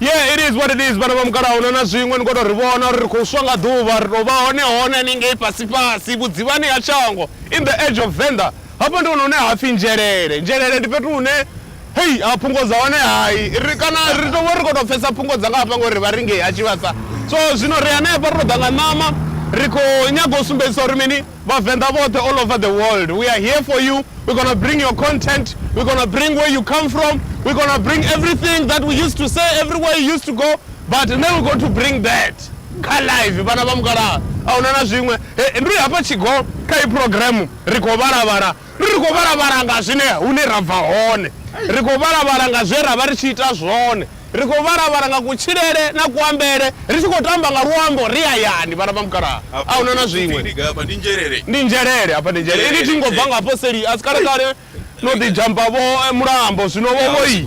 yeah it is what it is vhana vha mukalaho no na zwiṅwe ni khou tou ri vhona uri ri khou swa nga ḓuvha ri tou vha hone hone haningei fhasifhasi vhudzivhani ha shango in the edge of venda hafha ndi hone hune ha pfhi nzhelele nzhelele ndi fhethu hune hei a phungo dza hone hai ri kana ri tou vha ri khou tou pfesa phungo dza nga hafha ngori vha ringei ha tshivhasa so zwino ri hanefha ri tou ḓa nga ṋama ri khou nyaga u sumbedzisa uri mini Vhavenḓa vhoṱhe all over the world we are here for you, we gonna bring your content, we gonna bring where you come from, we gonna bring everything that we used to say everywhere you used to go but now we going to bring that kha live vhana vha mukalaha ahuna na zwiṅwe. He, ndi hafha Tshigoo kha heyi program ri khou vhala vhala Ri khou vhala-vhala nga zwine hune ra bva hone. Ri khou vhala-vhala nga zwe ra vha ri tshi ita zwone. Ri khou vhala-vhala nga kutshilele na kuambele. Ri tshi khou tamba nga luambo ri hayani, vhana vha mukalaha. A hu na na zwiṅwe. Ndi nzhelele. Afha ndi nzhelele. Inwi thingo bva nga hafho seli a si kale-kale no ḓi dzhampa-vho mulambo zwino-vho vhoi.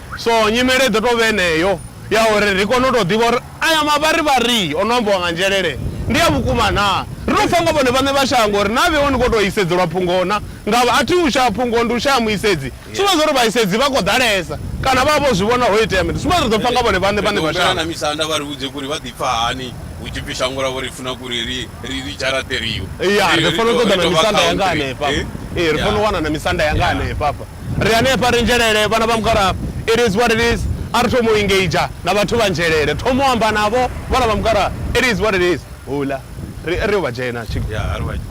So nyimele i ḓo tou vha yeneyo ya uri ri kone u tou ḓivha uri aya mavharivhari o no ambiwa nga Nzhelele ndi a vhukuma naa. Ri tou pfa nga vhone vhaṋe vha shango uri naa vhe hone vho tou isedzelwa phungo naa. Ngavha a thi u shaya phungo, ndi u shaya muisedzi. Zwi sumbedza zwa uri vhaisedzi vha khou ḓalesa kana vha vha vho zwi vhona ho itea mini. Zwi sumbedza uri ri ḓo pfa nga vhone vhaṋe vhaṋe vha shango. ri ri dzharaṱeliwa. Ya, ri fanela u ṱoḓa na misanda yanga hanefha. Ee, ri fanela u wana na misanda yanga hanefha. Hafha ri hanefha, ri nzhelele, vhana vha mukalaha. It is what it is. A ri thome u engager na vhathu vha nzhelele. Thoma u amba navho vhana vha mukalaha. It is what it is. Houḽa, ri, ri yo vha dzhena tshi,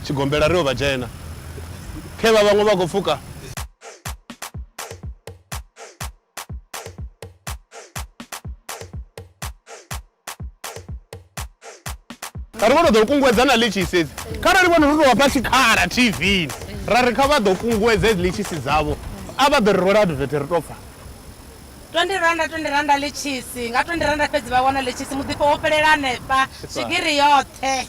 tshigombela, ri yo vha dzhena. Khevha vhaṅwe vha khou pfuka. kha ri vho no ḓo kunguwedza na litshisi edzi kharali vhone ro tou vhafha tshikhala tvni ra ri kha vha ḓo kunguwedza edzi litshisi dzavho a vha ḓo ri rwela advete ri tou pfa twendi randa twendi randa litshisi nga twendi randa fhedzi vha wana litshisi muḓifho wo fhelela hanefha swigiri yoṱhe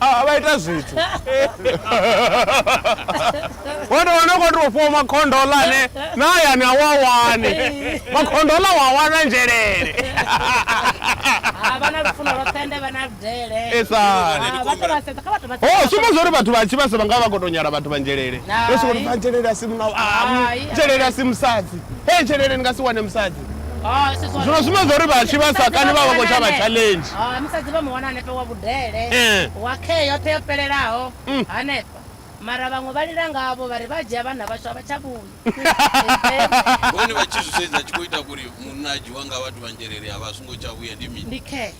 a vha ita zwithu wana wana khou tou fhiwa makhondola ane na hayani a wa wani makhondola wa wana nzhelele sumba zwa uri vhathu vha tshi vhasa vha nga vha khou tou nyala vhathu vha nzhelele yo sokou ri vha nzhelele a si munau nzhelele a si musadzi he nzhelele ni nga si wane musadzi zwino zwine zwa uri vhatshi vha sa kani vha vha khou tsha vha challenge musadzi vha mu wana hanefha wa vhudele eh. wa khee yoṱhe yo fhelelaho mm. hanefha mara vhaṅwe vha lila ngavho vha ri vha dzhia vhana vhashu a vha tsha vhuyi vhone vha tshi zwi sedza tshi khou ita kuri munna a dzhiwa nga vhathu vha nzhelele a vha a songo tsha vhuya ndi mini ndi khee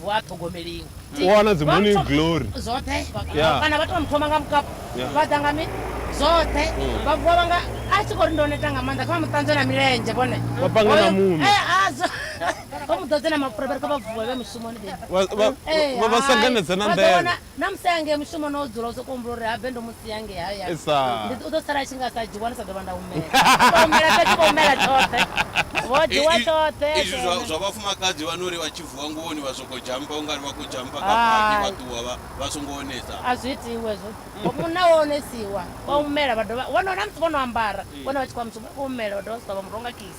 Vhu a ṱhogomeliwa. U wana dzi morning glory. Zwoṱhe. Yeah. Kana vhathu vha mu thoma nga mukapu. Yeah. Vha ḓa nga mi zwoṱhe. Mm. Vha vuwa vha nga a tshi khou ri ndo neta nga maanḓa kha vha mu ṱanzwe na milenzhe vhone. Vha panga na muṋo. Eh azwo. Vha mu ḓodze na mapfura vha ri kha vha vuwe vhe mushumoni baby. Vha vha eh, vha sanganedza na nḓevhe. Na musi a ya ngei mushumoni o dzula, u sokou humbula uri habe ndo mu sia ngei hayani, ndi, u ḓo sala a tshi nga sa dzhiwa, ndi sa ḓo vha nda humela. U tou humela fhedzi, vho humela tshoṱhe, vho dzhiwa tshoṱhe, a Izwi zwa, dzhena. zwa vhafumakadzi vha no ri vha tshi vuwa nguvhoni vha sokou dzhampa ungari vha khou dzhampa kha baki vha Hai. ṱuwa vha, vha songo onesa. A zwi itiwi hezwo. Vho, munna u a onesiwa, vha humela vha dovha, vho no, na musi vho no ambara, vhone vha tshi khou ya mushumoni, vha khou humela vha dovha vha swika vha mu rwa nga kiss.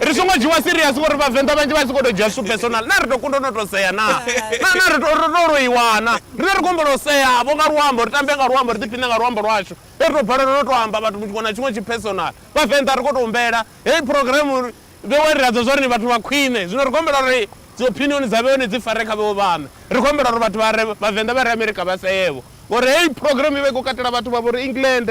ri songo dzhiwa serious ngori vhavenḓa vhanzhi vha tshi khou tou dzhia zwithu personal na ri tou kunda no tou sea na na na ri tou ri tou loiwana rine ri khou humbela u sea vho nga luambo ri tambe nga luambo ri ḓiphiṋe nga luambo lwashu he ri tou balelwa no tou amba vhathu tshiṅwe na tshiṅwe tshi personal vhavenḓa ri khou tou humbela heyi programu vhewa ri adzwa zwa ri ni vhathu vha khwine zwino ri khou humbela uri dzi opinion dza vhewe ni dzi fare kha vhewe vhaṋe ri khou humbela uri vhathu vha re vhavenḓa vha re amerika vha seevho ngori heyi programu i vha i khou katela vhathu vha vho ri england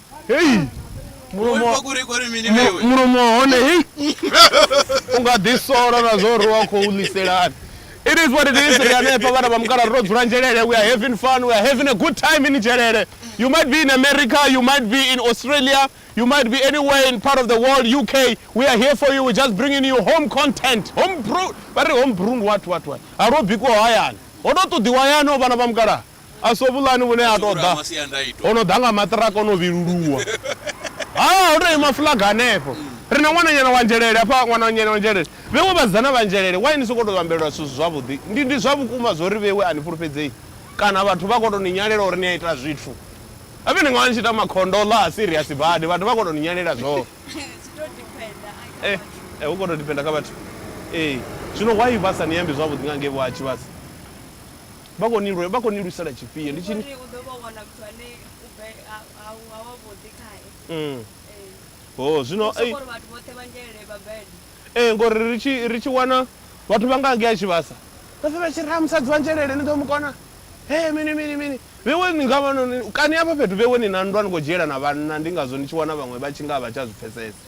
hei mulomo wa- kuri kuri mini mu- vewe mulomo wa hone hei u nga ḓi sola na zwo ri wa khou ḽiselani it is what it is ri hanefha vhana vha mukala ro dzula nzhelele we are having fun we are having a good time in nzhelele you might be in america you might be in australia you might be anywhere in part of the world uk we are here for you we just bringing you home content home brew vha ri home brew ndi what what what ha lwo bikiwa hayani ho to ṱoḓiwa hayani o vhana vha mukala A si hovhuḽani vhune a tou ḓa ho no ḓa nga maṱiraka o no vhiluluwa. Ha, ho tou ima fuḽaga hanefho. Ri na ṅwananyana wa nzhelele hafha, ṅwananyana wa nzhelele. Vhewe vhasidzana vha nzhelele, why ni sokou tou vhambelwa zwithu zwi zwavhuḓi? Ndi, ndi zwa vhukuma zwo ri Vhewe a ni fhulufhedzei? Kana vhathu vha khou tou ni nyalela uri ni a ita zwithu? Habe ni nga vha ni tshi ita makhondoḽa a serious badi, vhathu vha khou tou ni nyalela zwone. Eh, eh, hu khou tou depender kha vhathu. Ee. Zwino why vha sa ni ambi zwavhuḓi nga ngei vho ha Tshivhasa? Vha khou ni lwe, vha khou ni lwisela tshifhio? Ndi Ndi khou tshi ri u ḓo vho wana muthu ane u bve, a, a, a wavhuḓi khae. Mm. Ee. Ho, Ndi zwino, u ei. sokou ri vhathu vhoṱhe vha ngelele Babele. Ee, ngori ri tshi, ri tshi wana vhathu vha nga ngei tshivhasa, vha pfe vha tshi ri, Ha, musadzi wa ngelele, ni ḓo mu kona? Hee, mini, mini, mini. Vhewe ni nga vha no, kani hafha fhethu vhewe ni na nndwa ni khou dzhielana vhanna, ndi ngazwo ni tshi wana vhaṅwe vha tshi nga a vha tsha zwi pfesesa.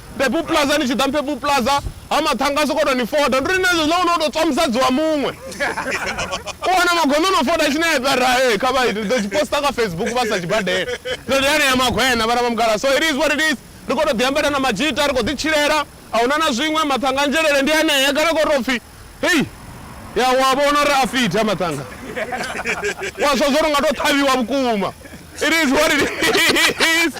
Purple Plaza ni tshi ḓa Purple Plaza ha maṱhanga a sokou tou ni foda ndi uri nṋe hezwo zwine u tou tswa musadzi wa muṅwe u wana magondo o no foda tshi nae vha ra ee kha vha ite ḓo tshi poster kha Facebook vha sa tshi badela ndo ndi hanea magwena vhana vha mugala so it is what it is ri khou tou ḓi ambela na madzhita ri khou ḓi tshilela a huna na zwiṅwe maṱhanga nzhelele ndi hanea kana khou tou pfhi Hei! Ya wa vhona uri a fit ha maṱanga. Wa zwa zwo nga to ṱhavhiwa vhukuma. It is what it is.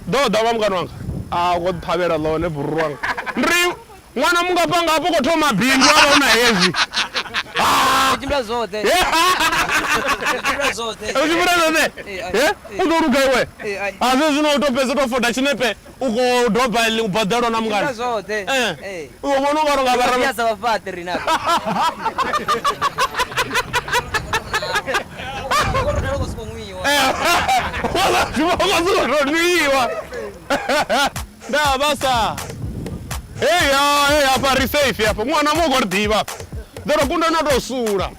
Ḓo ḓa vha mungana wanga. A u khou ṱhavhela ḽone buru wanga. Ndi ri ṅwana mungafhanga hafho khou thoma bindu a vha u na hezwi. Ri tshimbila zwoṱhe. Ri tshimbila zwoṱhe. Ri tshimbila zwoṱhe. U ḓo luga iwe. A zwe zwino u to fhedza u to foda tshinepe. U khou doba eli u baḓelwa na mungana. Ita zwoṱhe. Ee. Ee. U vhona u nga ri nga vha ra. Ndi sa vhafhaṱi ri na. Nwiwa. Nda vha sa. Hey ya, hey hafha ri safe hafha. Ṅwana mu khou ri ḓivha. Ḓo ro kunda na to sula.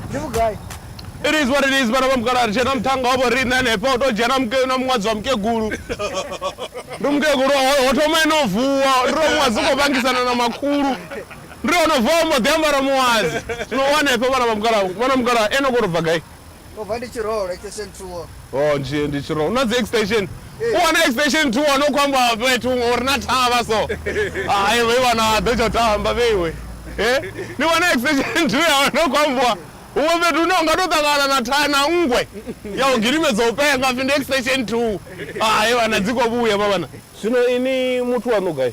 ndi vhugai it is what it is vhana vha mukala ri tshena muthanga wa vhoriṋe hanefha u tou dzhena muke- na muṅwadzi wa mukegulu ndi mukegulu ho- ho thoma ene o vuwa ndi ro muṅwadzi u khou vangisana na makhulu ndi ono vuwa mbo ḓi ambara muṅwadzi zwino u hanefha vhana vha mukala vhana mukala ene u khou tou bva gai Ndo bva ndi tshiroho extension 2. Oh nje ndi tshiroho. Na dzi extension. Hey. Eh. U wana extension 2 wana khou amba fhethu huṅwe uri na thavha so. Hayi vhe wana ḓo tsho tamba vhe iwe. Eh? Ni wana extension 2 ya wana khou ambiwa huṅwe fhethu hune unga to ṱangana na tha na nngwe ya u gilimedza u penga pfi ndi extension 2. Hayi vhana dzi khou vhuya vha vhana. Zwino ini muthu waṋu gai?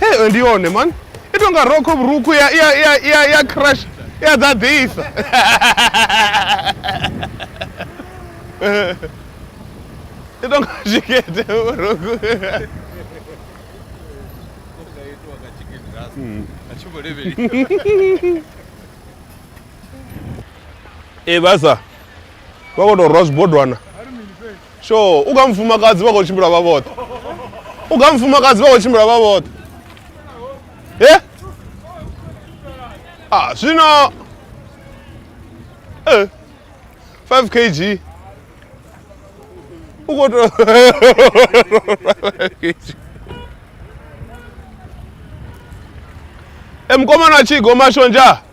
heyo ndi yone mani i tou nga rokho vhurukhu ya ya ya ya ya crash ya ḓaḓisa i tou nga tshikete vhurukhu Nga itiwa nga chicken rasta. A tshi vho levheli. ee vhasa vha khou tou rwa zwibodwana sure u kha mufumakadzi vha khou tshimbila vha vhoṱhe u kha mufumakadzi vha khou tshimbila vha vhoṱhe e a ah, zwino e eh, 5 kg u khou to 5 kg e mukomana tshi gomashonja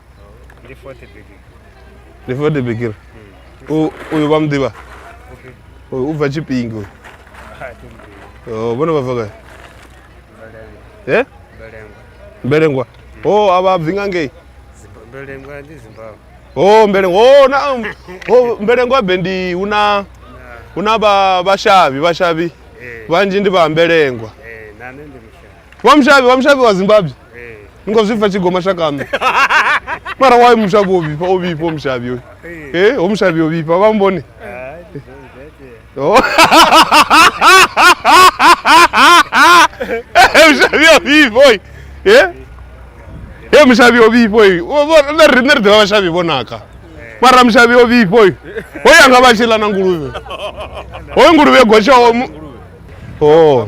ndi fote bikir ndi fote bikir uyu vha muḓivha uyu u bva tshipingi uyu oh, vhone vha bva gai e eh? mbelengwa o oh, a vha bvi nga ngei mbelengwa ndi zimbabwe o oh, mbelengwa o na o mbelengwa be ndi hu na hu na vha vhashavhi vhashavhi eh. vhanzhi ndi vha mbelengwa eh, wa mushavi wa mushavi wa zimbabwe eh. ni khou zwi pfa tshi goma shakame mara wayo mushavi o vhifha o vhifha o mushavi oyo eh. e eh, o mushavi o vhifha vha mbone oh. mushavi o vhifha oyo e e mushavi o vhifha oyo na riṋe ri ḓivha vhashavi vho naka mara mushavi o vhifha oyo hoyo anga vha tshi ḽa na nguluvhe hoyo nguluvhe gotshaho Oh.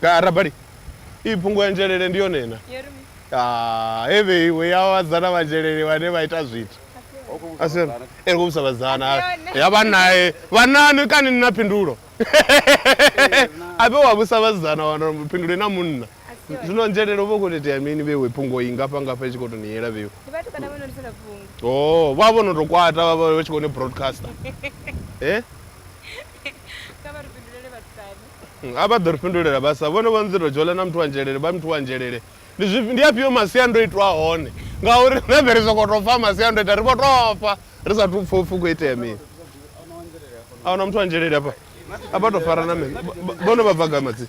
Ka rabali. I fhungo ya nzhelele ndi yone na. Ah, he vheiwe ya vhadzana vha nzhelele vhane vha ita zwithu. Asiyona. Eh, ku vhusa vhadzana. Ya vha nae. Vhanani kani ni na phindulo. Abe wa vhusa vhadzana wana phindulo na munna. Zwino nzhelele vho khou itea mini vheiwe phungo i ngafha ngafha i tshi khou tou ni yela vheiwe. Ndi vhathu kana vho no ri sala phungo. Oh, vha vho no tou kwata vha vha tshi khou ni broadcaster. Eh? Kha vha ri fhindulele vha ṱanu. Mm, a vha ḓo ri fhindulela vha sa vhone vho nḓiro dzhola na muthu wa nzhelele vha muthu wa nzhelele ndi zwifhi ndi afhio masiandoitwa a hone ngauri riṋe vhe ri soko to pfa masiandoitwa ri vho to fa ri sa thu pfa upfhi u khou itea mini a huna muthu wa nzhelele afha a vha to fara na mini Ba- ba- vhone vha bva gai madzina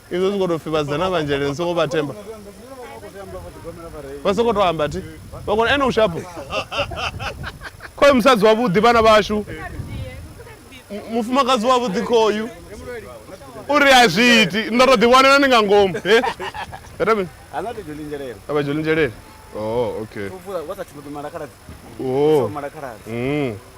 izwo zwi khou tou pfhi vhasidzana vhanzhi ende ni songo vha themba vha songo tou amba thi vha kona ene u shapo khoyu musadzi wavhuḓi vhana vhashu mufumakadzi wavhuḓi khoyu uri a zwi iti ndo to ḓiwanela ni nga ngomu avha dzholinzhelele oh, okay oh. mm.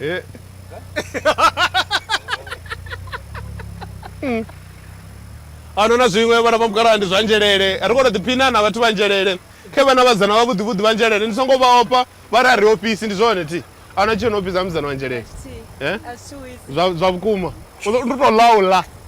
Eh. Mm. a no na zwiṅwe vhana vha mukalaha ndi zwa nzhelele ri kono ḓiphina na vhathu vha nzhelele khe vhana vhadzana vha vhuḓivhuḓi vha nzhelele ndi songo vha opa vha ri a ri ofisi ndi zwone thi a na tshio no ofisa mudzana wa nzhelele eh? zwa vhukuma ndi to laula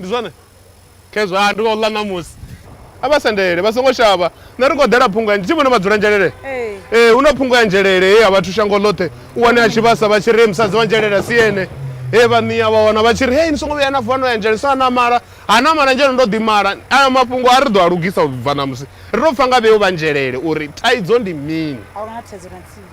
Ndi zwone. Khezwo, a ndi khou ḽa ṋamusi. A vha sendele, vha songo shavha. Nṋe ri khou ḓela phungo ya. Ndi tshi vhona vha dzula nzhelele. Ee, hu na phungo ya nzhelele he ya vhathu shango ḽoṱhe. U wane a tshi vhasa vha tshi ri, Hee musadzi wa nzhelele a si ene. Hee vha nia vha wana vha tshi ri, Hee ni songo vhuya na vuwa no ya nzhelele. Sa na mala. Ha na mala nzhelele, ndo ḓi mala. Ayo mafhungo a ri ḓo a lugisa u bva ṋamusi. Ri tou pfa nga vheo vha nzhelele uri thaidzo ndi mini. A hu na thaidzo na nthihi.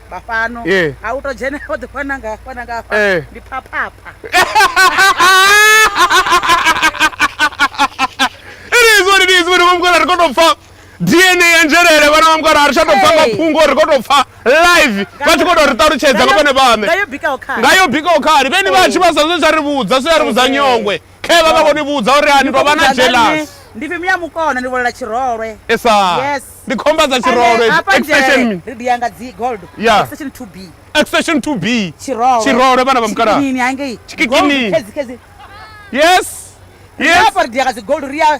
vha fhano Yeah. a u to dzhene o ḓi fana nga fana nga fha Eh. ndi phaphapha It is what it is, vhana vha mukala ri khou tou pfa dna ya nzhelele vhana vha mukala ri tsha tou pfa Hey. mafhungo ri khou tou pfa live vha tshi khou tou ri ṱalutshedza nga vhone vhaṋe ngayo bikaho kha ngayo bikaho khali vheni vhatshi vha sa zwe zwa ri vhudza zwe ya ri vhudza nyongwe Khe vha vha vho ni vhudza uri a ni tou vha na jealous. Ndi fimi ya mukona ni volela tshirolwe. Esa. Yes. Ndi khomba dza tshirolwe. Extension me. Ri dia nga dzi gold. Extension 2B. Extension 2B. Tshirolwe. Tshirolwe vhana vha mukala. Tshikini hangei. Tshikini. Yes. Yes. Ndi apa ri dia nga dzi gold ri ya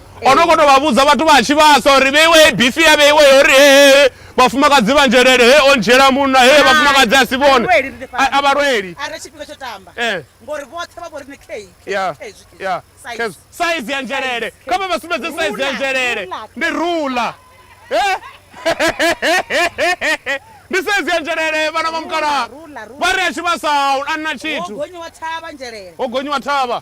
o no koto vha vhudza vhathu vha tshi vhasa uri vheiwe hei bifi ya vheiwe uri he vhafumakadzi vha nzhelele he o ndzhiela munna he vhafumakadzi a si vhone a vha lweli eh. saizi ya nzhelele kha vha vha sumbedze saizi ya nzhelele ndi rula eh? ndi saizi ya nzhelele vhana vha mukalaha vha ri a tshi vhasa a na tshithu ho gonyiwa thavha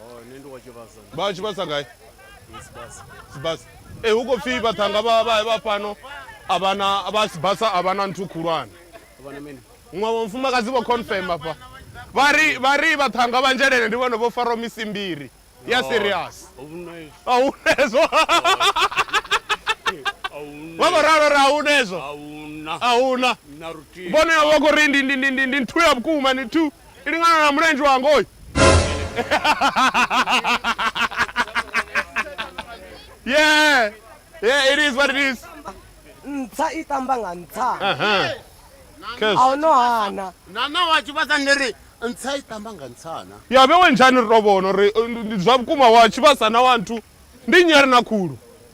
Oh, nṋe ndi wa tshivhasa vha tshi vhasa gai sibasa sibasa e hu khou pfhi vhaṱhanga vha vha vha fhano a vha na vha sibasa a vha na nthu khulwane vha na mini muṅwe wa mufumakadzi vho confirm afha vha ri vha ri vhaṱhanga vha nzhelele ndi vhone vho faraho misi mbiri ya serious ahuna izwi a hu nezwo vha vho ralo ra a hu nezwo ahuna a hu na na rutihi vhone vha khou ri ndi ndi ndi ndi ndi nthu ya vhukuma ndi nthu ilingana na mlenji wa ngoi yeah yeah it is what it is ntsha i tamba nga ntsha uh-huh. a hu no hana nana wa tshivhasa ndi ri ntsha i tamba nga ntshana ya vhe we njhani ri to vhona uri ndi zwa vhukuma wa tshivhasa na wa nthu ndi nyari na khulu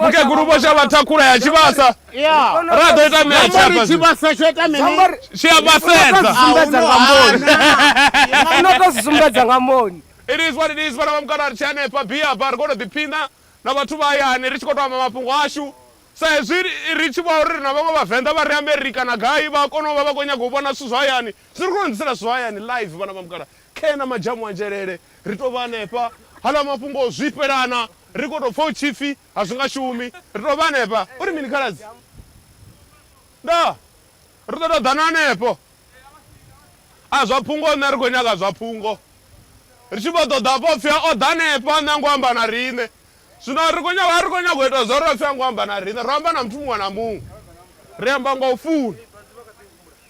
mukegulu vho shavha thakhula ya tshivhasa ra ḓo ita mea tshapa tshivhasa tsho ita mini tshi a vhasedza no to zwi sumbedza nga moni it is what it is vhana vha mukana ri tshi hanefha bia ba ri khou to ḓiphina na vhathu vha hayani ri tshi khou to amba mafhungo ashu sa hezwi ri tshi vha uri ri na vhaṅwe vhavenḓa vha ri amerika na gai vha kona u vha vha khou nyanga u vhona zwithu zwa hayani zwi ri khou ḓisela zwithu zwa hayani live vhana vha mukala khe na madzhamu anzhelele Ri tou vha hanefha, haḽa mafhungo o zwifhelana, ri khou tou pfa hu tshi pfi, A zwi nga shumi. Ri tou vha hanefha. U ri mini, Khaladzi? Ndaa, ri ḓo tou ḓa na hanefho. A zwa phungo, nṋe ri khou nyaga zwa phungo. Ri tshi vho ṱoḓa vho pfi, O ḓa hanefha, nṋe a ngo amba na riṋe. Zwino ri khou nyaga, a ri khou nyaga u ita zwauri a pfi a ngo amba na riṋe. Ro amba na muthu muṅwe na muṅwe. Ri amba nga u funa.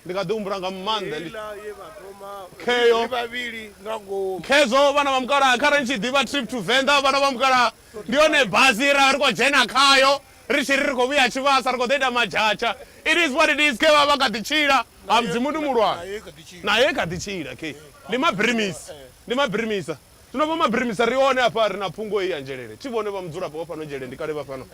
Ndi kha ḓi humbula nga maanḓa ḽi. Heiḽa ye vha thoma Kheyo. ri vhavhili nga ngomu. Khezwo vhana vha mukalaha kharali ni tshi ḓivha trip to Venḓa vhana vha mukalaha ndi yone basi ye ra vha ri khou dzhena khayo ri tshi ri ri khou vhuya Tshivhasa ri khou ḓo ita madzhatsha. It is what it is khe vha vha kha ḓi tshila ha Mudzimu ndi muhulwane. Nayo i kha ḓi tshila khe ndi mabirimisi ndi mabirimisa. Zwino vho mabirimisa ri hone hafha ri na phungo heyi ya Nzhelele. Thi vhone vha mudzulapo wa fhano Nzhelele ndi kale vha fhano.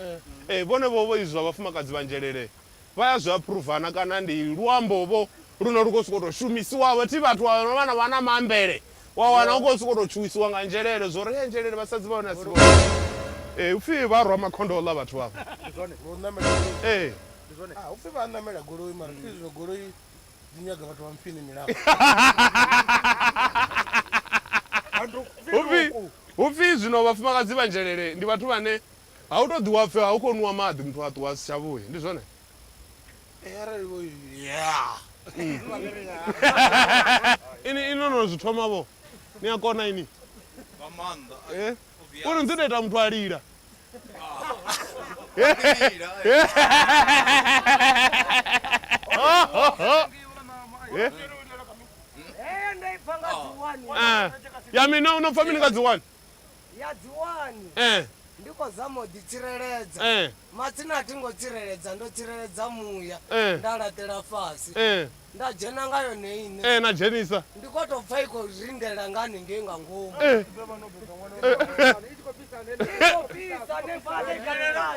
Ee vhone vho vho izwi zwa vhafumakadzi vha Nzhelele. vha ya zwi aphuruva na kana ndi luambo vho lune lu khou sokou tou shumisiwa vho thi vhathu vha vha na vha na maambele wa wana hu khou sokou tou tshuwisiwa nga nzhelele zwo ri nzhelele vhasadzi vha hone a si vhone ee hu pfhi vha rwa makhondoḽa vhathu vha ee hu pfhi vha ṋamela goloi mara pfhi zwino goloi dzi nyaga vhathu vha mpfini milapfu hu pfhi hu pfhi zwino vhafumakadzi vha nzhelele ndi vhathu vhane A hu tou ḓi wa pfe hu khou nwiwa maḓi muthu a ṱuwa a si tsha vhuya. Ndi zwone? Ee, arali vho ya. Ini ini no no zwi thoma vho. Ni a kona ini. Nga maanḓa. Eh? Uri ni ḓo ita muthu a lila. Ya mina u no pfa mini nga dzi wani? Ya dziwani Eh. ndi khou zama u ḓitsireledza Eh. matsina a thi ngo tsireledza ndo tsireledza muya Eh. nda laṱela fhasi Eh. nda dzhena nga yone ine Eh, na dzhenisa ndi khou tou pfha i khou rindela nga haningei nga ngomu Eh. I khou fhisa hanefhaḽa i galela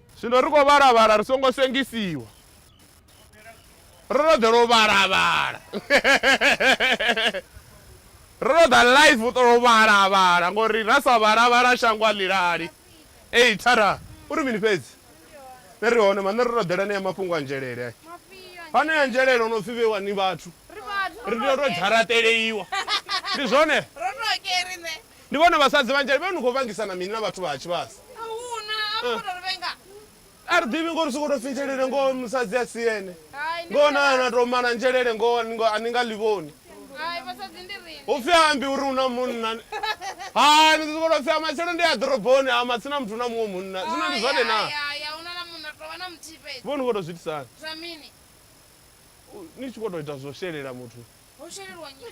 Zwino ri khou vhala-vhala ri songo sengisiwa. Ro no ḓela u vhala-vhala. Ro no ḓa live u ṱola u vhala-vhala ngori ra sa vhala-vhala shango a ḽilali. Ei Tara, u ri mini fhedzi? Nṋe ri hone ma, nṋe ro no ḓela anea mafhungo a nzhelele. Anea nzhelele o no pfi vheiwa ni vhathu. Ri tea u tou dzharaṱeleiwa. Ndi zwone? Ro no ke riṋe. Ndi vhone vhasadzi vhanzhi vhe ni khou vhangisana mini na vhathu vha ha tshivhasa? A hu na, a ro ngo tou ri vhenga. A ri ḓivhi ngoho ri sokou tou pfi nzhelele ngoho musadzi a si ene. Hai, ndi Ngoho na na vhenga. tou mala nzhelele ngoho a ni ngo- a ni nga ḽi vhoni. Hai, vhasadzi ndi riṋe. Hu pfi a ambi uri hu na munna. Hai, ni ḓo sokou tou pfi a matshelo ndi a ḓoroboni a matsina muthu na muṅwe munna. Zwino ndi Hai, zwone na? hai, hai, a hu na na munna, ri tou vha na muthihi fhedzi. Vho ni khou tou zwi itisa hani? Zwa mini? Ni tshi khou tou ita zwo shelela muthu. Ho shelelwa nnyi?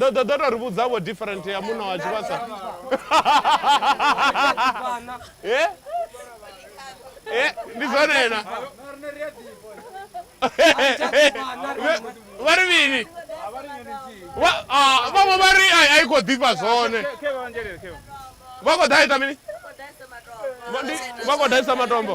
ḓo ḓo ḓo to ri vhudza vho different ya muṋa wa tshivhasa Eh? Eh, ndi zwone na vha ri mini Vha- ah, vhaṅwe vha ri ai ai khou ḓifha zwone vha khou ḓa ita mini Vha- ndi- vha khou daisa matombo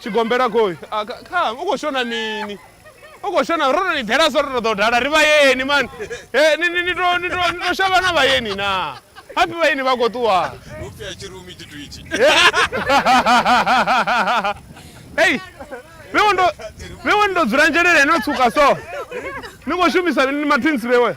tshigombela khoi ah, kha u khou shona mini u khou shona ro to ni ḓela so ro to ḓo dala ri vhayeni mani eh, ni to shavha na vhayeni na hapi vhayeni vha khou ṱuwa hei vhewe ndo dzula nzhelele no tsuka so ni khou shumisa mini mathinsi vhewe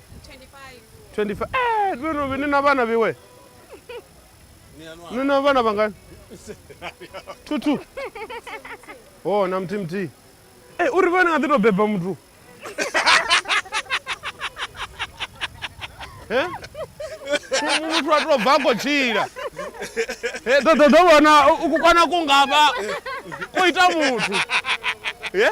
25 eh vheno vhene na vhana vhewe ni na vhana vhangani two two oh na mthihi mthihi eh uri vhana nga ḓi to beba muthu eh muthu a to bva ko tshila eh ḓo ḓo ḓo vhona u kwana ku ngavha ko ita muthu eh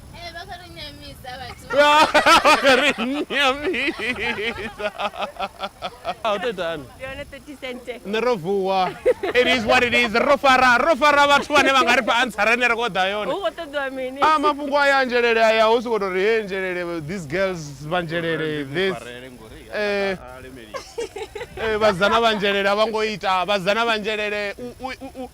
Eh, bakarunyamiza bati Nyamisa. Ah, utetani. yone 30 cente Nṋe ro vuwa. It is what it is. Ro fara, ro fara vhathu vhane vha nga ri fha answer ane ra khou ḓa yone. hu khou ṱoḓiwa mini Ah, mafhungo aya a nzhelele aya hu sokou tou ri he nzhelele these girls vha nzhelele this eh eh vhazana vha nzhelele a vha ngo ita vhazana vha nzhelele u- u- u- u-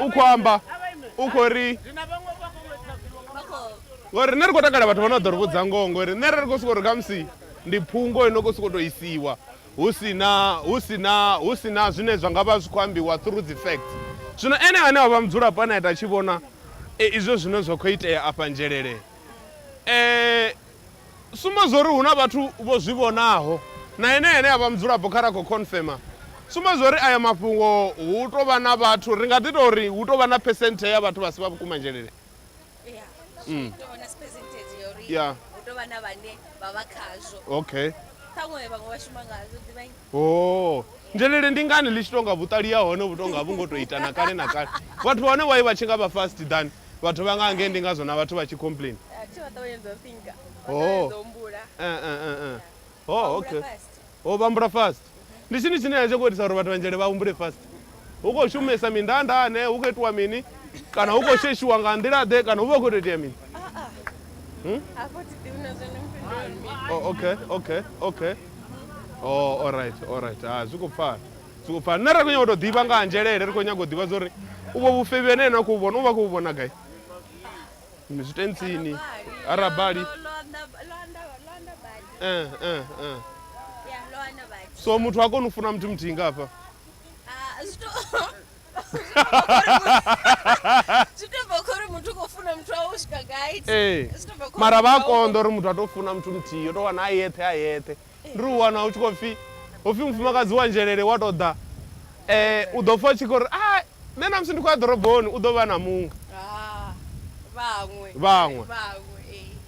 u khou amba u khou ri ngori nṋe ri khou takala vhathu vha no ḓo ri vhudza ngoho ngori nṋe ri khou sokou ri khamusi ndi phungo ino khou sokou tou isiwa hu sina hu sina hu sina zwine zwa nga vha zwi khou ambiwa through dzi facts zwino ene ane wa vha mudzulapo ane a ita tshi vhona e, izwo zwine zwa khou itea afha nzhelele um Tsumbo zwa uri hu na vhathu vho zwi vhonaho na enea ane a vha mudzulapo kha ra khou khonfema tsumbo zwa uri ayo mafhungo hu tou vha na vhathu, ri nga ḓi tou ri hu tou vha na phesenthe ya vhathu vha si vha vhukumadzhelele. Ya. Okay. Hoo! Ndelele ndi ngani ḽi tshi tou nga vhuṱali ha hone vhu tou nga a vhu ngo tou ita na kale na kale? Vhathu vha hone why vha tshi nga vha fast than vhathu vha nga hangei ndi ngazwo na vhathu vha tshi complain. A thi vha ṱavhanyedza u thinker vha Hoo! ṱavhanyedza u humbula. Eh, eh, eh, eh. Hoo! Vha humbula Okay. fast. Hoo! Vha humbula fast. Ndi tshini tshine a tshi ngo itisa uri vhathu vha Nzhele vha humbule fast? Hu khou shumesa mindanda ane hu khou itiwa mini kana hu khou sheshiwa nga nḓila ḓe kana hu vha hu khou tou itea mini hmm? oh, okay okay okay oh alright alright ha ah, zwi khou pfala zwi khou pfala nṋe ri khou nyaga u tou ḓivha nga anzhelele ri khou nyaga u ḓivha zwa uri u vho vhufebi ane ene a khou vhona u vha khou vhona gai zwitentsini arabali eh, eh, eh. so muthu a koni u funa muthu muthihi nga hafha Ah, zwi to- zwi to bva khori muthu u khou funa muthu wawe u swika gai ee Zwi to bva khori mara vha a muthu wawe- konḓa uri muthu a tou funa muthu muthihi yo tou wana a yeṱhe a yeṱhe ndi u wana u tshi khou pfhi u pfhi mufumakadzi wa nzhelele wa tou ḓa um u ḓo pfha u tshi khou ri a nṋe na musi ndi khou ya ḓoroboni u ḓo vha na muṅwe Ah, vhaṅwe Vhaṅwe. vhaṅwe ee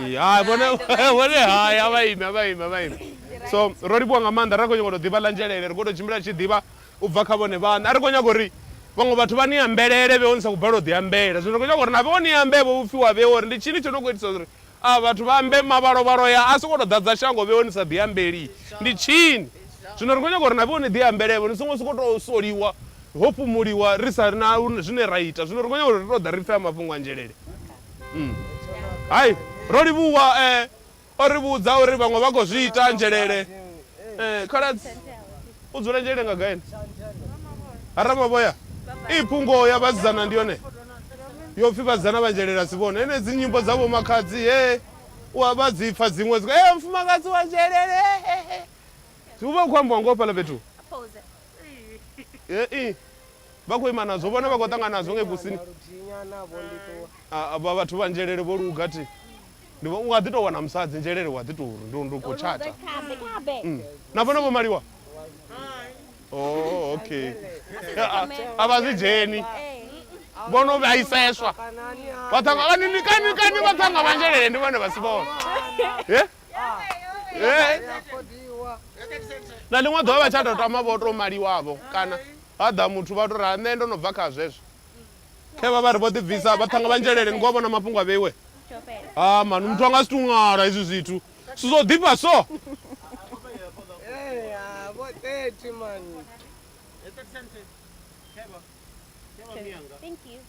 Ee, hai vhone vhone hai a vha ime a vha ime a vha ime so ro livhuwa nga maanḓa ra khou nyanga u tou ḓivha ḽa nzhelele ri khou tou tshimbila tshi ḓivha u bva kha vhone vhaṋe a ri khou nyaga uri vhaṅwe vhathu vha ni ambelele vhe o ni sa khou balelwa u ḓi ambela zwino ri khou nyaga uri na vhe o ni ambe vho vhupfi wa vhe uri ndi tshini tsho no khou itisa uri a vhathu vha ambe mavhalovhalo ya a songo tou ḓadza shango vhe o ni sa ḓi ambeli ndi tshini zwino ri khou nyaga uri na vhe o ni ḓi ambelevho ni songo sokou tou soliwa ho fhumuliwa ri sa na zwine ra ita zwino ri khou nyaga uri ri tou ḓa ri pfhe a mafhungo a nzhelele Hai, ro livhuwa e o ri vhudza uri vhaṅwe vha khou zwi ita nzhelele. Ee, khaladzi u dzula nzhelele nga gai ene? Ha Ramavhoya? I pfi ngoho ya vhasidzana ndi yone yo pfi vhasidzana vha nzhelele a si vhone. Henedzi nyimbo dza vho makhadzi he u a vha dzi pfa dziṅwe dzi khou mufumakadzi wa nzhelele he he he. Hu vha hu khou ambiwa ngoho fhaḽa fhethu. He i. Vha khou ima nazwo, vhone vha khou ṱangana nazwo ngei kusini. Vha vhathu vha nzhelele vho luga thi. Ndi vho nga ḓi tou wana musadzi nzhelele wa ḓi tou ndo ndo khou tshata. Mm. Na vhone vho maliwa? Oh, okay. A vha zwi dzheni. Vho no vhaiseswa. Vha ṱhanga vha ni kani kani vha ṱhanga vha nzhelele ndi vhone vha si vhone. Eh? Eh? Na ḽiṅwe ḓuvha vha tsha tou tama vho tou maliwavho kana Ha ḓa muthu vha tou ri, Nṋe ndo no bva kha zwezwo. Khe vha vha ri vho ḓibvisa, vha ṱhanga vhanzhelele, ni khou a vhona mafhungo a vheiwe? Ha man, muthu a nga si tou ṅwala hezwi zwithu. Zwithu zwo ḓifha so!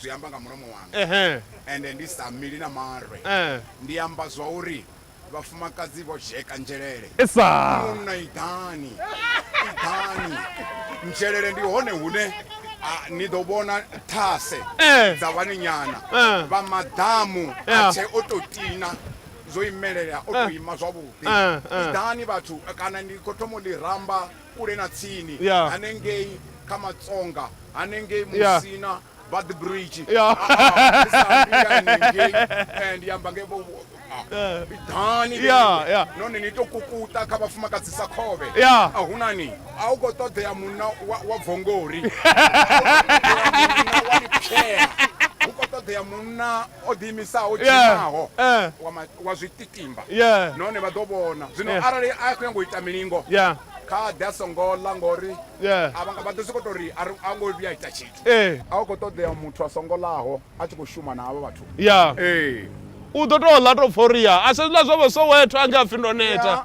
zwi amba nga mulomo wanga ehe ende ndi sa mili na marwe eh ndi amba zwa uri vhafumakadzi vho dzheka nzhelele esa munna iḓani iḓani nzhelele ndi hone hune a, ni ḓo vhona thase Eh. dza vhanenyana Eh. vha maḓamu Yeah. a tshe o tou tina zwo imelela o tou ima zwavhuḓi Eh, eh. iḓani vhathu kana ndi khou thoma u ḽi ramba kule na tsini yeah. hanengei kha matsonga hanengei musina yeah. but the bridge yeah. uh, uh, and yamba ngei vhiḓani none ni to kukuta kha vhafumakadzi sa khovhe a hu na ni a u khou ṱoḓea munna wa bvongori wa lipshea hu khou ṱoḓea munna o ḓiimisaho o Yeah. dzhimaho Eh. wa ma- wa zwitikimba Yeah. nahone vha ḓo vhona zwino Yeah. arali a khou nyanga u ita milingo Yeah. kha ḓe a songo ḽa ngori Yeah. a vha- vha ḓo sokou tou ri a ri- a ngo vhuya a ita tshithu Eh. a u khou ṱoḓea muthu a songo ḽaho a tshi khou shuma na havha vhathu Yeah. ee u ḓo tou ḽa tou pfha uri ya a se ḽa zwa vho soweto ange a pfi ndo neta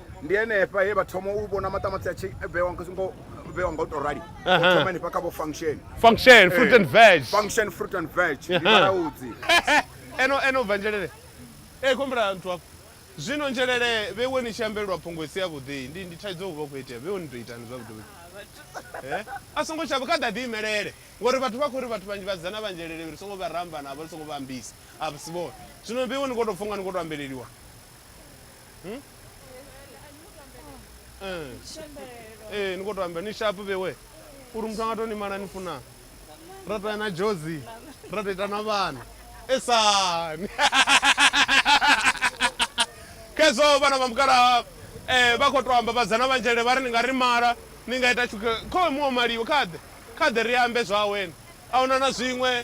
ndi henefha he vha thoma u vhona maṱamaṱisi a tshi vhewa ngo vhewa nga u tou rali Aha. vho thoma henefha kha vho function function fruit Eh, and veg function fruit and veg ndi Aha. vhalaudzi eno eno bva nzhelele e khombela nthu afho zwino nzhelele vhewe ni tshi ambelelwa phungo isi yavhuḓi ndi ndi thaidzo u vha u khou itea vhewe ni tou itani zwavhuḓi vhuḓi Eh? a songo shavha kha ḓa ḓi imelele ngori vhathu vha khou ri vhathu vhanzhi vhasidzana vha nzhelele ri songo vha ramba navho ri songo vha ambisa a si vhone zwino vhewe ni khou tou pfha unga ni khou tou ambeleliwa Hmm? Eh. Eh, ni khou to amba ni sharp vhewe uri muthu anga to ni mala ni funa ra to ya na jozi ra to ita na vhana esani khezwo vhana vha mukalaha um vha khou to amba vhadzana vhanzhele vha ri ni nga ri mala ni nga ita tshuke khowe muwe maliwe khaḓe khaḓe ri ambe zwawene a huna na zwiṅwe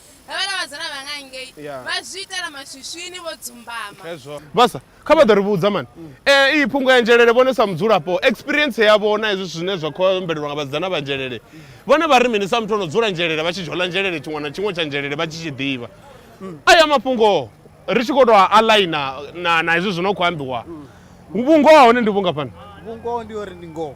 havhala vhazana vha nga ngei Yeah. vha zwi itela maswiswini vho dzumbama hezwo vhasa kha vha ḓo ri vhudza mani Eh, iyi phungo ya nzhelele vhone sa mudzulapo experience yavho na hezwi zwine zwa khou ombelelwa nga vhasidzana vha nzhelele vhone vha ri mini sa muthu ono dzula nzhelele vha tshi dzhola nzhelele tshiṅwe na tshiṅwe tsha nzhelele vha tshi tshi ḓivha aya mafhungo ri tshi khou tou a aligna na na hezwi zwi no khou ambiwa vhungoho ha hone ndi vhungafhani vhungoho ndi uri ndi ngoho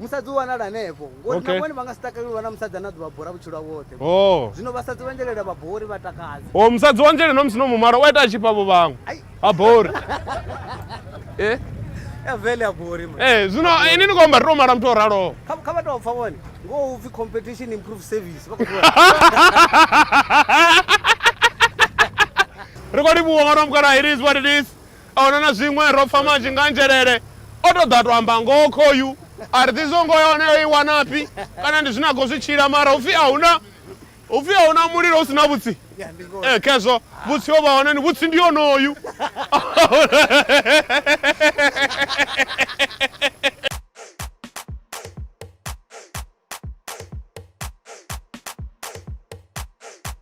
musadzi u wanala hanefho ngori okay. na vhone vha nga si takaleli u vha na musadzi ane a ḓuvha bora vhutshilo woṱhe oh. zwino vhasadzi vha njelela vha bori vha takadza o oh, musadzi wa njelela no musi no mumara u a ita a tshifha vho vhaṅwe a bori e eh? avele abori ma eh zwino ini ni komba ro mara muthu o raloho kha kha vhathu pfa vhone ngo u pfi competition improve service vha khou ri khou livhuwa mwana wa mukalaha it is what it is a wana na zwiṅwe, ro pfa manzhi nga nzhelele. O tou ḓa a tou amba ngoho khoyu, a ri ḓivhi zwa uri ngoho ya hone o i wanafhi kana ndi zwine a khou zwi tshila mara hu pfi a hu na hu pfi a hu na mulilo hu si na vhutsi. Ee, khezwo vhutsi ho vha hone, ni vhutsi ndi onoyu.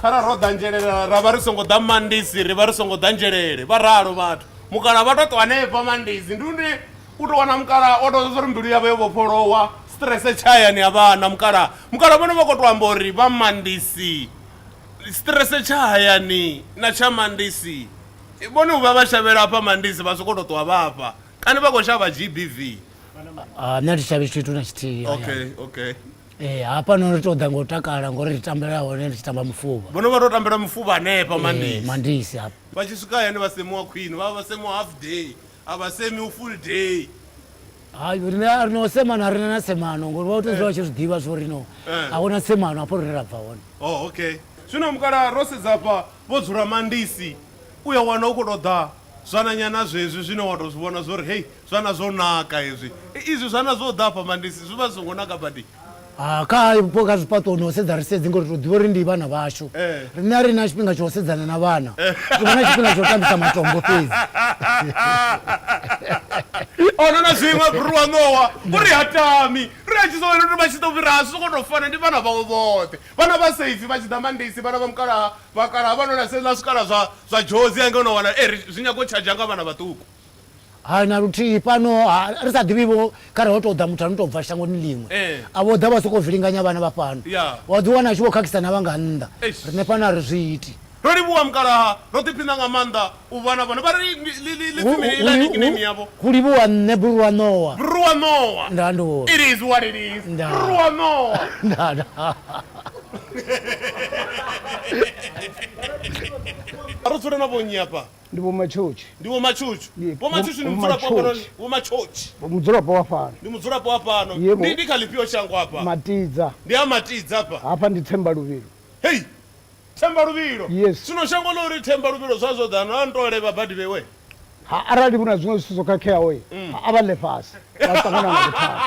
khara ro ḓanzhelela ra vha ri songo ḓa mandisi ri vha ri songo ḓanzhelele vha ralo vhathu mukala vha to ṱwa hanefha mandisi ndi une u to wana mukala o to zwa uri mbilu yavho yo vhofholowa strese tshayani ya vhana mukala mukala vhone vha khou to amba uri vha mandisi strese tsha hayani na tsha mandisi vhone u vha vha shavhela afha mandisi vha sokou tou ṱwa vhafha kana vha khou shavha gbv Ah, nṋe thi shavhi tshithu na tshithihi hayani. okay okay Eh, hafhano ri tou ḓa ngo takala ngori ri tambela hone ri tshi tamba mufuvha vhono vha to tambela mufuvha hanefha Eh, mandisi mandisi hafha vha tshi swika hayani vha semiwa khwini vha vha vha semiwa half day a vha semi u full day hayi rine a ri no semana a rina na semano ngori vha u tou zwa vha tshi zwi ḓivha zwo ri no Eh. a huna semano hafho rine ra bva hone oh okay zwino mukala ro sedza fha vho dzula mandisi u ya wana u khou tou ḓa zwananyana zwezwi zwine wa tou zwi vhona zwo ri hei Zwana zwo naka hezwi. Izwi zwana zwo ḓa afha Mandisi zwi vha zwi songo naka badi. Haa kha hayo vhupo kha zwifhaṱuwo ni ho sedza ri sedzi ngori ri tou ḓivha uri ndi vhana vhashu. Riṋe a ri na tshifhinga tsha u sedzana na vhana. Ri vha na tshifhinga tsha u tambisa matombo fhedzi. A hu na na zwiṅwe Bru wa ṋowa u ri ha tami. Ri a tshi zwi vhona uri vha tshi ḓo fhira hashu zwi khou tou fana ndi vhana vhawe vhoṱhe. Vhana vha safe vha tshi ḓa Mandisi vhana vha mukalaha vhakalaha vha no ḽa sa hezwiḽa zwikala zwa zwa Jozi hangei u no wana ee ri zwi nyaga u tshadzha nga vhana vhaṱuku. Hai na luthihi, fhano ha ri sa ḓivhi vho khare ho tou ḓa muthu a no tou bva shangoni ḽiṅwe a vho ḓa vha sokou vilinganya vhana vha fhano, wa ḓi wana a tshi vho khakhisa na vha nga nnḓa. Riṋe fhano a ri zwi iti. Ro livhuwa mukalaha, ro ḓiphina nga maanḓa u vha na vhone. Vha ri, Ḽi pfi mini heiḽa nickname yavho? Hu livhuwa nṋe, Brurwa Ṋowa. Brurwa Ṋowa. Ndaa, ndi hone. It is what it is. Ndaa. Brurwa Ṋowa. Ndaa, ndaa. A ri dzule na vhonnyi hafha? Ndi Vho Matshotshi. Ndi Vho Matshotshi. Ndi Vho Matshotshi ndi mudzulapo wa fhanoni. Vho Matshotshi. Mudzulapo wa fhano. Ndi mudzulapo wa fhano. Ndi ndi kha ḽifhio shango afha? Matidza. Ndi a Matidza afha. Hafha ndi Themba Luvhilo. Hei! Themba Luvhilo? Yes. Zwino shango ḽa uri Themba Luvhilo zwa zwo ḓa no nto levha badi vhewe. Ha arali hu na zwiṅwe zwithu zwo khakheaho a vha ḽe fhasi vha ṱangana nga vhuthada.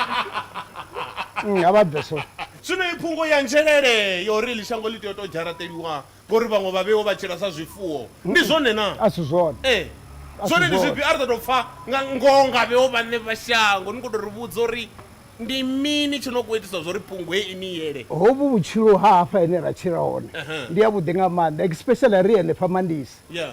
A vha bve so. Zwino i phungo ya nzhelele ya uri ḽi shango ḽi tea u to dzharaṱeliwa Ngori vhaṅwe vha vheiwa vha tshila sa zwifuwo. Ndi zwone na? A si zwone. Ee. A si Zwone ndi zwifhio? zwone. A ri sa tou pfa nga ngoho nga vheo vhaṋe vha shango. Ni khou tou ri vhudza uri ndi mini tshi no khou itisa zwa uri phungo hei i ni yele. Hovhu vhutshilo ha hafha hene ra tshila hone Ehe. ndi havhuḓi nga maanḓa especially ri henefha Mandisi. Yeah.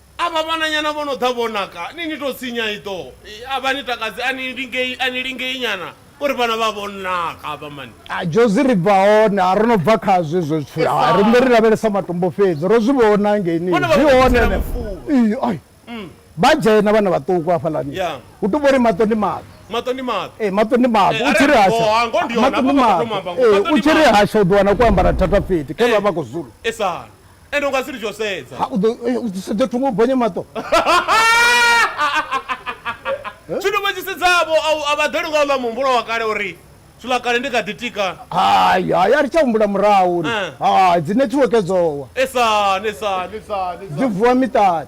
Avha vhananyana vho no ḓa vho naka, ni ni tou sinya iḓo. A vha ni takadzi, a ni lingei, a ni lingei nyana uri vhana vha vho naka avha mani. Jozi, Ri bva hone, ha ro no bva khazwo hezwo zwithu, ha ri vhuyi ri lavhelesa matombo fhedzi, ro zwi vhona hangei ni zwi hone henefho. Ii, Ai, vha dzhena vhana vhaṱuku hafhaḽani, hu tou vha uri maṱo ndi maḓi. Maṱo ndi maḓi? Ee, maṱo ndi maḓi, u tshi ri hasha, maṱo ndi maḓi, ee, u tshi ri hasha u ḓo wana kwo ambara thathafethi, khevha vha khou zulu. Ende u nga si ri tsho sedza. Ha, u ḓo, eh, u ḓo sedza thungo u bonya maṱo. Zwino vha tshi sedza vho, a u- a vha ḓeli nga houḽa muhumbulo wa kale uri zwiḽa kale ndi kha ḓi tika. Hai, hai, a ri tsha humbula murahu uri, Eh. hai, dzi nethiweke dzo wa. Esani, esani, esani, Dzi esani. vuwa miṱani.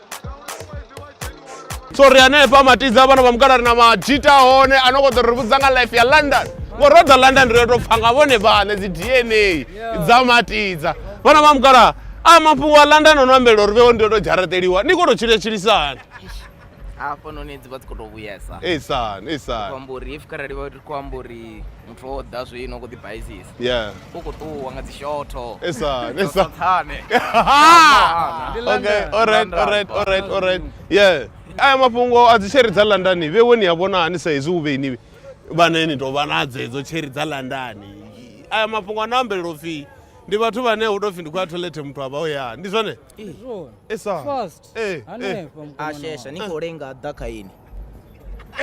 so ri hanefha matidza vhana vha mukala ri na majita hone a no kho ḓo ri vhudza nga life ya london ngori ro ḓa london ri yo tou pfa nga vhone vhaṋe dzi dna dza matidza vhana vha mukala a mafhungo a london o no ambelela uri vhewo ndi yo tou dzharaṱeliwa ni kho tou tshila tshilisani hafhanoni dzi vha dzi khou tou vhuyesa esani esani khou amba uri if kharali vha ri khou amba uri muthu wo ḓa zwino khou ḓibaizisa yeah u khou ṱuwa nga dzi shotho esa esa tsane okay all right all right all right all right yeah aya mafhungo a dzi cherry dza london vhe woni ya vhona hani sa hezwi u vheni vhane ni tovha na dzedzo cherry dza london aya mafhungo a na ambelela upfhi ndi vhathu vhane hu tou pfhi ndi khou ya toilet muthu a vha o ya ndi zwone esa eh, eh. ashesha ni khou lenga ḓa kha ini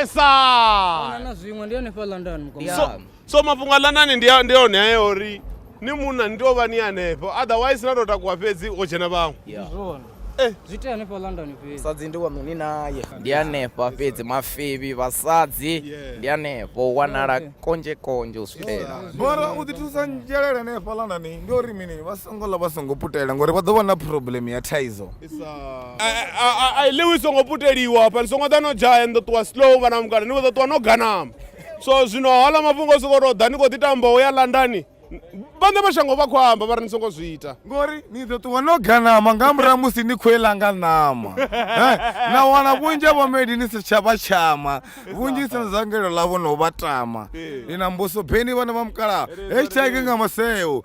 esa Ahuna na zwiṅwe ndi yone fha london mukoma Yeah. so, so mafhungo a lanani ndi a- ndi one ayo uri ni munna ni tea u vha ni hanefho otherwise na tou takuwa fhedzi o dzhena vhaṅwe Yeah. zwone Eh. zwi tea hanefha london fhedzi sadzi ndi waṋu ni naye ndi hanefha fhedzi mafebi vhasadzi Yeah. ndi hanefho u wanala Okay. konzhe konzhe u switela mara u ḓi thusa nzhelele ne fhalanani ndi uri mini vha songo ḽa vha songo putela ngori vha ḓo vha na problem ya thaidzo a i ḽiwi songo puteliwa fhani songo ḓa no dzhaya ni ḓo ṱuwa slow vhana mukana ni kho ḓo ṱuwa no ganama so zwino haaḽa mafhungo o sokou tou ḓa ni khou ḓi tamba u ya landani vhaṋe mashango vha khou amba vha ri ni songo zwi ita ngori ni ḓo ṱuwa no ganama nga murahu musi ni khou ela nga ṋama na wana vhunzhi ha vhomedi ni si tsha vha tshama vhunzhi sina zangelo ḽavho no vha tama ni na mbuso beni vhana vha mukalaha heshtag nga maseo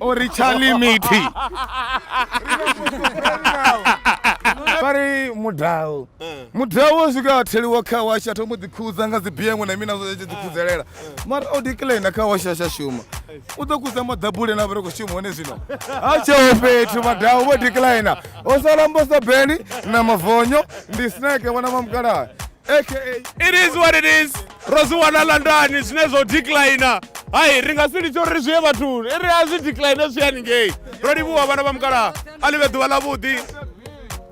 o ri tsha limiti vha ri mudau mudau wo swika a theliwa kha washi a thoma u ḓikhudza nga dzibiengwe na mina zwi tshi ḓikhudzelela mara o diklaina kha washi a tsha shuma u ḓo kudza maḓabule na vha ri khou shuma hone zwino ha tsheo fhethu madau vho diklaina o sala mbosa beni na mavonyo ndi snake vhona mamukalaha aka it is what it is ro zwi wana landani zwine zwo declina hai ri nga si litsho uri ri zwi ye vhathuni ri a zwi decline zwi haningei ro livhuwa vhana vha mukalaha a livhe ḓuvha ḽavhuḓi